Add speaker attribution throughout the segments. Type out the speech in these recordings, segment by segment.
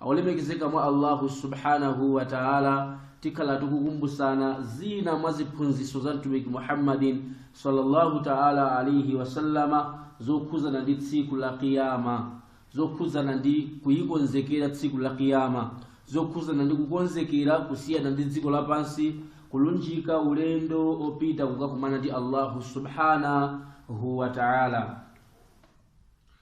Speaker 1: olemekezeka mwa allahu subhanahu wa taala tikhala tikukumbusana zina mwa ziphunzitso za mtumiki muhammadin sallallahu taala alaihi wasallama zokhudzana ndi tsiku la kiyama zokhudzana ndi kuyikonzekera tsiku la kiyama zokhudzana ndi kukonzekera kusiyana ndi dziko lapansi kulunjika ulendo opita kukakumana ndi allahu subhanahu wa taala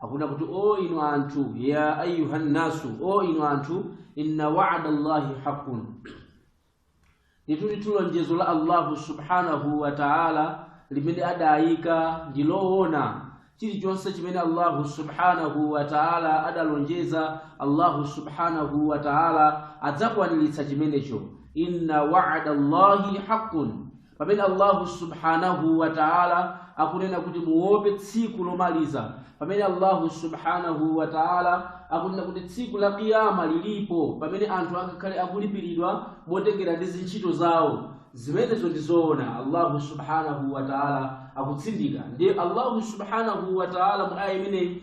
Speaker 1: akuna kuti o inu anthu ya ayuha nnasu o inu anthu inna wa'ada allahi haqqun ndituli tulonjezo la allahu subhanahu wa ta'ala limene adayika ndi loona chilichonse chimene allahu subhanahu wa ta'ala adalonjeza allahu subhanahu wa ta'ala adzakwaniritsa chimenecho inna wa'ada allahi haqqun pamene allahu subhanahu wa taala akunena kuti muope tsiku lomaliza pamene allahu subhanahu wa taala akunena kuti tsiku la kiyama lilipo pamene anthu akakhale akulipiridwa motengera ndi zintchito zawo zimenezo ndi zoona allahu subhanahu wa taala akutsindika ndiye allahu subhanahu wa taala mu aya imeneyi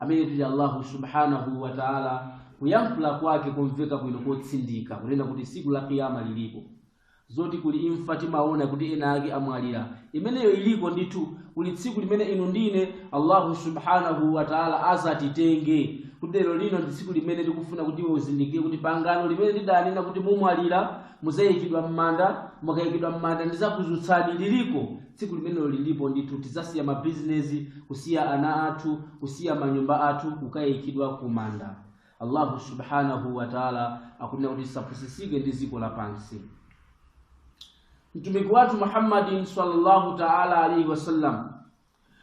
Speaker 1: amene tili Allahu subhanahu wa ta'ala kuyankhula kwake komveka bwino kotsindika kunena kuti siku la kiyama liliko zoti kuli imfa timaona kuti ena ake amwalira imeneyo iliko ndithu kuli tsiku limene inu ndi ine allahu subhanahu wa taala azatitenge kuti lero lino ndi tsiku limene tikufuna kuti iwe uzindikire kuti pangano limene ndidanena kuti mumwalira muzayikidwa m'manda mukayikidwa m'manda ndizakuzutsani liliko tsiku limenelo lilipo ndithu tidzasiya mabizinesi kusiya ana athu kusiya manyumba athu kukayikidwa ku manda allahu subhanahu wataala akunena kuti tisapusisike ndi dziko lapansi mtumiki wathu muhammadin sallallahu taala alaihi wasallam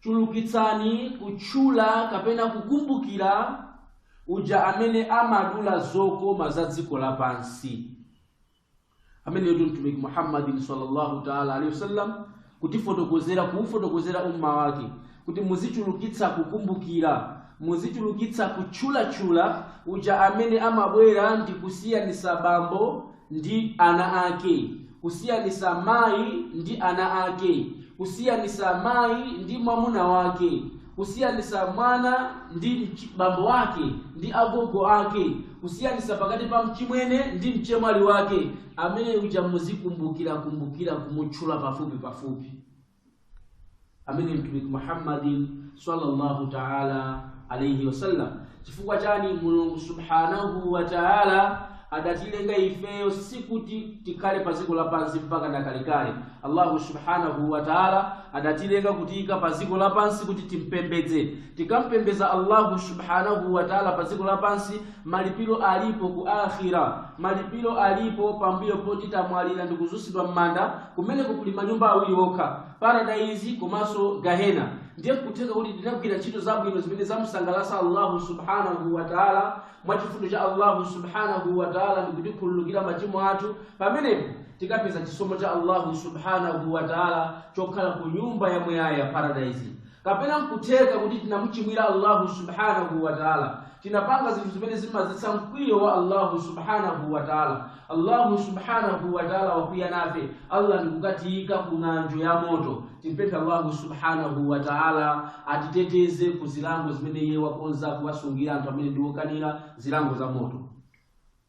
Speaker 1: chulukitsani kutchula kapena kukumbukira uja amene amadula zokoma za dziko lapansi ameneyo ndi mtumiki muhammadin sallallahu taala alaihi wasallam kuufotokozera umma wake kuti muzichulukitsa kukumbukira muzichulukitsa kutchulatchula uja amene amabwera ndi kusiyanisa bambo ndi ana ake, kusiyanisa mayi ndi ana ake, kusiyanisa mayi ndi mwamuna wake, kusiyanisa mwana ndi mch- bambo wake ndi agogo ake, kusiyanisa pakati pa mchimwene ndi mchemwali wake, amene uja muzikumbukira kumbukira kumutchula pafupi pafupi. amene mtumiki muhammadin sallallahu taala alaihi wasallam chifukwa chani mulungu subhanahu wa taala adatilenga ifeyo sikuti tikhale pa dziko lapansi mpaka nakalekale allahu subhanahu wa taala adatilenga kutiyika pa dziko lapansi kuti timpembedze tikampembedza allahu subhanahu wa taala pa dziko lapansi malipiro alipo ku akhira malipiro alipo pambuyo poti tamwalira ndi kudzutsidwa m'manda kumene kuli manyumba awiri okha paradaizi komanso gahena ndiye kutheka kuti tinagwira ntchito zabwino zimene zamusangalatsa allahu subhanahu wa taala mwa chifundo cha allahu subhanahu wa taala ndi kutikhululukira machimo athu pamenepo tikapeza chisomo cha allahu subhanahu wa taala chokhala ku nyumba ya muyaya ya paradaizi kapena nkutheka kuti tinamuchimwira allahu subhanahu wataala tinapanga zinthu zimene zimadzetsa mkwiyo wa allahu subhanahu wataala allahu subhanahu wataala wakwiya nafe allah ndikukatiyika ku ng'anjo ya moto timpemphe allahu subhanahu wataala atiteteze ku zilango zimene iye wakonza kuwasungira anthu amene ndiwokanira zilango za moto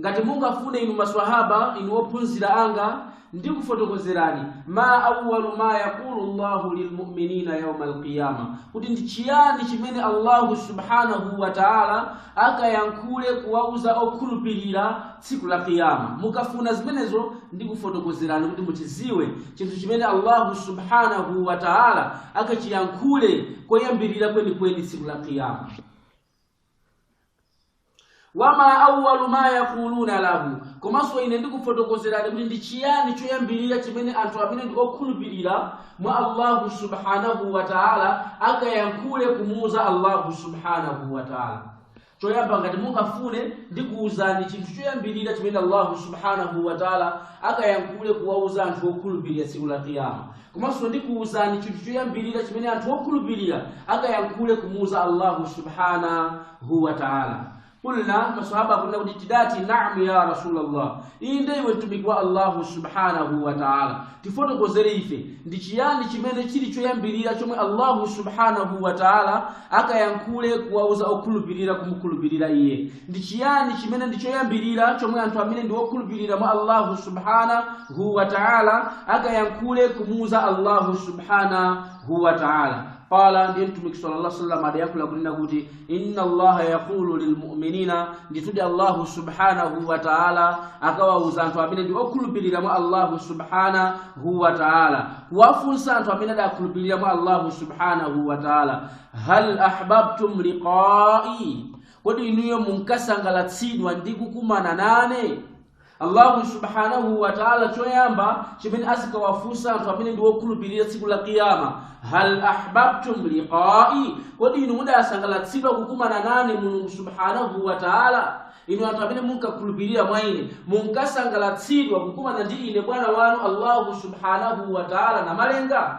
Speaker 1: ngati mungafune inu maswahaba inu ophunzira anga ndikufotokozerani ma awwalu ma yaqulu llahu lilmuminina yauma alqiyama kuti ndi chiyani chimene allahu subhanahu wa taala akayankhule kuwauza okhulupirira tsiku la qiyama mukafuna zimenezo ndikufotokozerani kuti muchidziwe chinthu chimene allahu subhanahu wa taala akachiyankhule koyambirira kwenikweni tsiku la qiyama wama awwalu ma yaquluna lahu komanso ine ndikufotokozerani kuti ndi chiyani choyambirira chimene anthu amene ndi okhulupirira mwa allahu subhanahu wa taala akayankhule kumuuza allahu subhanahu wa taala choyamba ngati mungafune ndikuwuzani chinthu choyambirira chimene allahu subhanahu wa taala akayankhule kuwauza anthu okhulupirira tsiku la kiyama komanso ndikuwuzani chinthu choyambirira chimene anthu okhulupirira akayankhule kumuuza allahu subhana huwa taala qulna maswahaba kunena kuti tidati naam ya rasulallah inde iwe mtumiki wa allahu subhanahu wa taala tifotokozere ife ndi chiyani chimene chili choyambirira chomwe allahu subhanahu wa taala akayankhule kuwauza okhulupirira kumukhulupirira iye ndi chiyani chimene ndi choyambirira chomwe anthu amene ndi okhulupirira mwa allahu subhanahu wa taala akayankhule kumuuza allahu subhanahu wa taala qala ndiye mtumiki sallallahu alaihi wasallam adayankhula kunena kuti inna allaha yaqulu lilmu'minina nditudi allahu subhanahu wa ta'ala akawauza anthu amene ndi okhulupirira mwa allahu subhanahu wa ta'ala kuwafunsa anthu amene adakhulupirira mwa allahu subhanahu wa ta'ala hal ahbabtum liqa'i kodi inuyo munkasangalatsidwa ndi kukumana nane allahu subhanahu wa taala choyamba chimene azikawafunsa anthu amene ndi wokhulupirira tsiku la kiyama hal ahbabtum liqai kodi inu mudasangalatsidwa kukumana nane mulungu subhanahu wa taala inu anthu amene munkakhulupirira mwa ine munkasangalatsidwa kukumana ndi ine bwana wanu allahu subhanahu wa taala namalenga